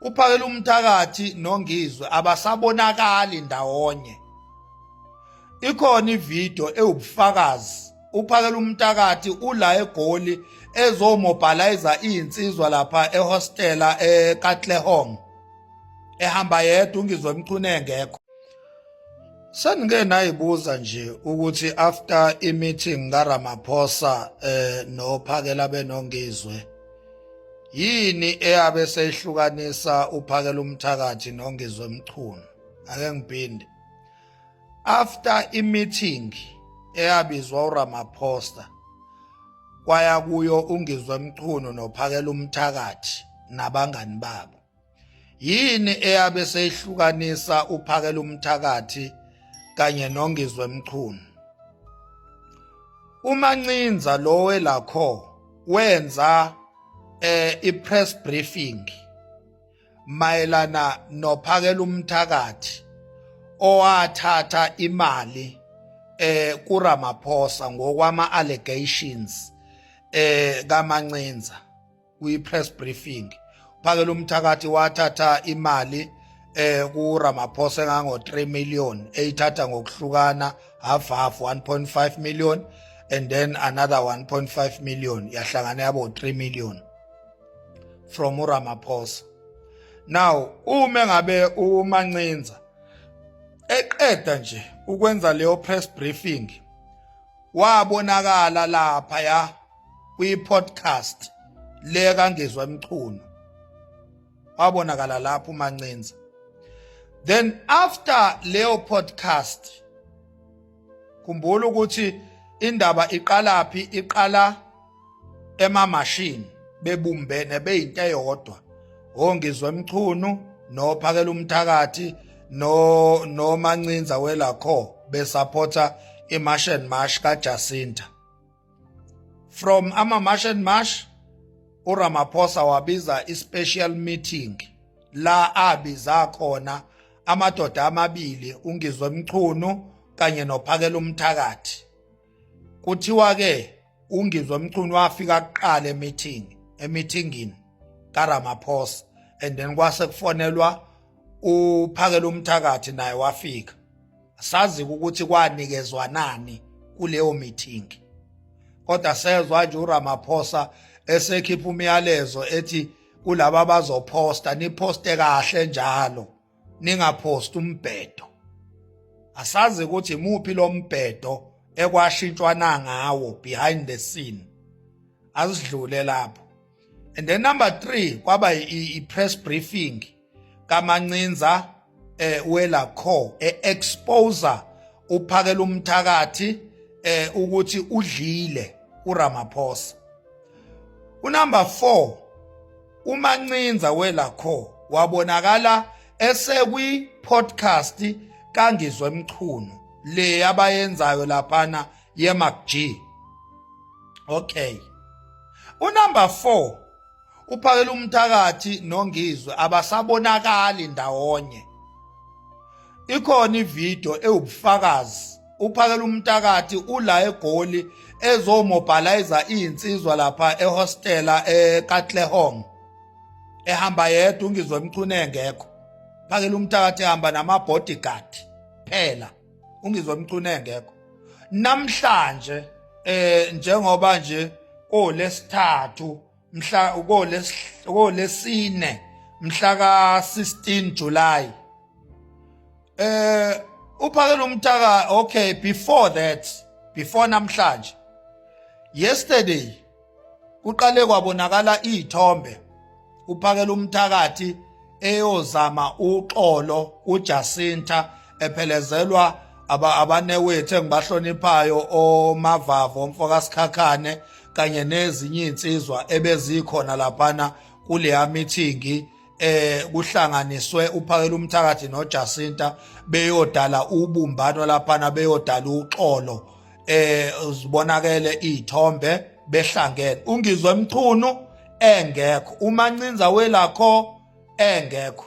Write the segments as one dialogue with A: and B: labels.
A: uphakele umthakathi nongizwe abasabonakali ndawonye ikhona ivideo ewubufakazi uphakela umthakathi ula egoli ezomobiliza izinsizwa lapha ehostela eKatlehong ehamba yedwa ungizwe emchune engekho Sengike nayibuza nje ukuthi after i meeting kaRamaphosa eh nophakela benongizwe yini eyabe seyihlukanisa uphakela umthakathi nongizwe mchunu ake ngiphinde after i-meeting eyabizwa uramaphosta kwaya kuyo ungizwe mchunu nophakela umthakathi nabangani babo yini eyabe seyihlukanisa uphakela umthakathi kanye nongizwe mchunu umancinza lo welakho wenza eh ipress briefing mayelana nophakela umthakathi owathatha imali eh kuRamaphosa ngokwama allegations eh kaMancinza kwi-press briefing uphakela umthakathi wathatha imali eh kuRamaphosa engango 3 million eyithatha ngokuhlukana half half 1.5 million and then another 1.5 million yahlangana yabo 3 million from uRamaphosa now uma ngabe umancinza eqeda nje ukwenza leyo press briefing wabonakala lapha ya kwi-podcast le kangezwa imchunu wabonakala lapho umancinza then after leyo podcast khumbula ukuthi indaba iqalaphi iqala emamashini bebumbene beyinto eyodwa ongizwe emchunu nophakela umthakathi no nomancinza welakho besupporta imash and mash kaJacinta from ama march and march uRamaphosa wabiza ispecial meeting la abiza khona amadoda amabili ungizwe mchunu kanye nophakela umthakathi kuthiwa ke ungizwe mchunu wafika kuqala emeeting emeetingini kaRamaphosa and then kwase kufonelwa uphakela umthakathi naye wafika asazi ukuthi kwanikezwa nani kuleyo meeting kodwa sezwa nje uRamaphosa esekhipha umyalezo ethi kulaba bazophosta niphoste kahle njalo ningaphosti umbhedo asazi ukuthi muphi lo mbhedo ekwashintshwa nangawo behind the scene asidlule lapho and then number 3 kwaba i press briefing kamancinza eh wela kho eexposer uphakela umthakathi eh ukuthi udlile uRamaphosa unumber 4 umancinza wela kho wabonakala esekwi podcast kangizwe emchunu le abayenzayo laphana yeMacG okay unumber 4 uphakela umthakathi nongizwe abasabonakali ndawonye ikhona ividiyo ewubufakazi uphakela umthakathi ula egoli ezomobilizer izinsizwa lapha ehostela eKatlehong ehamba yedwa ungizwe mchune engekho phakela umthakathi ehamba nama bodyguard phela ungizwe mchune engekho namhlanje eh njengoba nje kolesithathu mhla ukolesine mhla ka-16 July eh uphakela umtaka okay before that before namhlanje yesterday kuqale kwabonakala izithombe uphakela umthakathi eyozama uxolo uJacinta ephelezelwa abanewethu engibahloniphayo omavavo mfokasikhakhane kanye nezinye insizwa ebezikhona laphana kuleya meeting eh kuhlanganiswe uphakela umthakathi noJacinta beyodala ubumbano laphana beyodala uxolo eh uzibonakele izithombe behlangene ungizwe mchunu engekho umancinza welakho engekho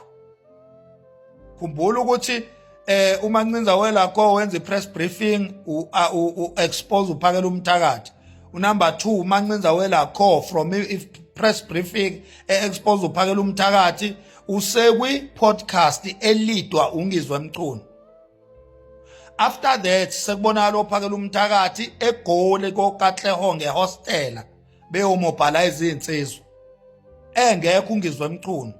A: khumbula ukuthi eh umancinza welakho wenza ipress briefing u expose uphakela umthakathi unumber 2 umancinza welakho from if press briefing e expose uphakela umthakathi usekwi podcast elidwa ungizwe mchunu after that sekubonakala ophakela umthakathi egoli kokatleho ngehostela beyomobhala izinsizwa engekho ungizwe emchunu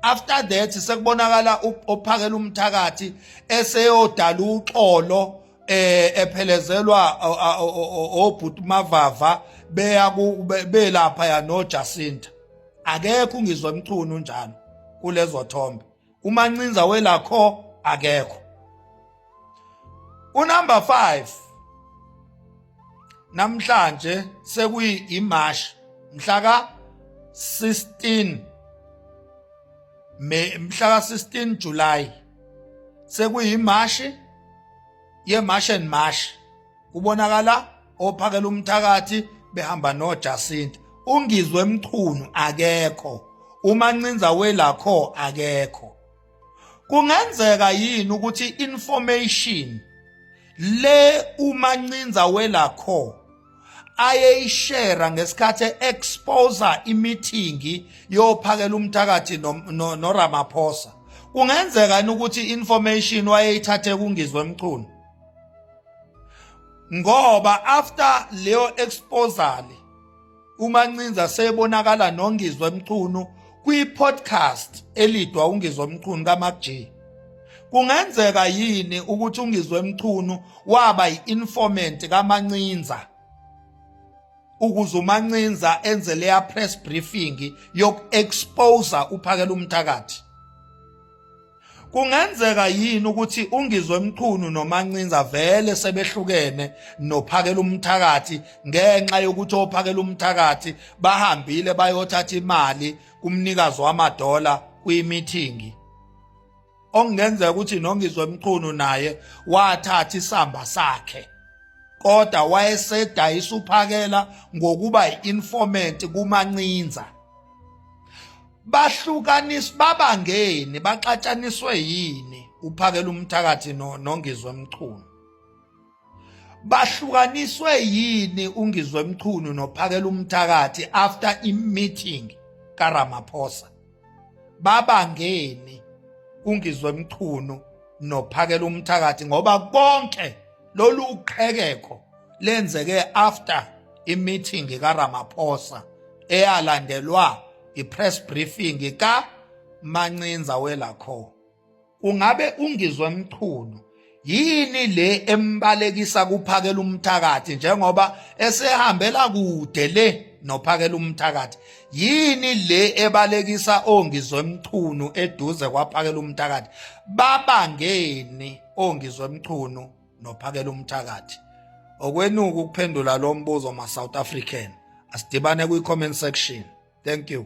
A: after that sekubonakala ophakela umthakathi eseyodala uxolo eh ephelezelwa obhuti mavava beya belapha ya no Jacinta akekho ungizwe emchunu njalo kulezo thombe umancinza welakho akekho unumber 5 namhlanje sekuyi imash mhla ka 16 May mhla ka 16 July sekuyimashi ye march and march kubonakala ophakela umthakathi behamba noJacinta ungizwe mchunu akekho umancinza welakho akekho kungenzeka yini ukuthi information le umancinza welakho ayeyishera ngesikhathi exposa imithingi yophakela umthakathi noRamaphosa kungenzeka ukuthi information wayeyithathe kungizwe mchunu ngoba after leyo exposal umancinza sebonakala nongizwe emchunu kwi-podcast elidwa ungizwe emchunu kaMac G kungenzeka yini ukuthi ungizwe emchunu waba yi-informant kamancinza ukuze umancinza enze leya press briefing yoku-exposa uphakela umthakathi Kungenzeka yini ukuthi ungizwe mchunu nomancinza vele sebehlukene nophakela umthakathi ngenxa yokuthi ophakela umthakathi bahambile bayothatha imali kumnikazi wamadola kwimithingi okungenzeka ukuthi nongizwe mchunu naye wathatha isamba sakhe kodwa wayesedayisa uphakela ngokuba yi-informant kumancinza bahlukaniswa babangeni baxatshaniswe yini uphakela umthakathi nongizwe mchunu bahlukaniswe yini ungizwe mchunu nophakela umthakathi after i-meeting karamaphosa babangeni ungizwe mchunu nophakela umthakathi ngoba konke lolu qhekeko lenzeke after i-meeting karamaphosa eyalandelwa ipress briefing ka Mancinza welakho ungabe ungizwe mchunu yini le embalekisa kuphakela umthakathi njengoba esehambela kude le nophakela umthakathi yini le ebalekisa ongizwe mchunu eduze kwaphakela umthakathi babangeni ongizwe mchunu nophakela umthakathi okwenuka ukuphendula lo mbuzo ma-south african asidibane kwi-comment section thank you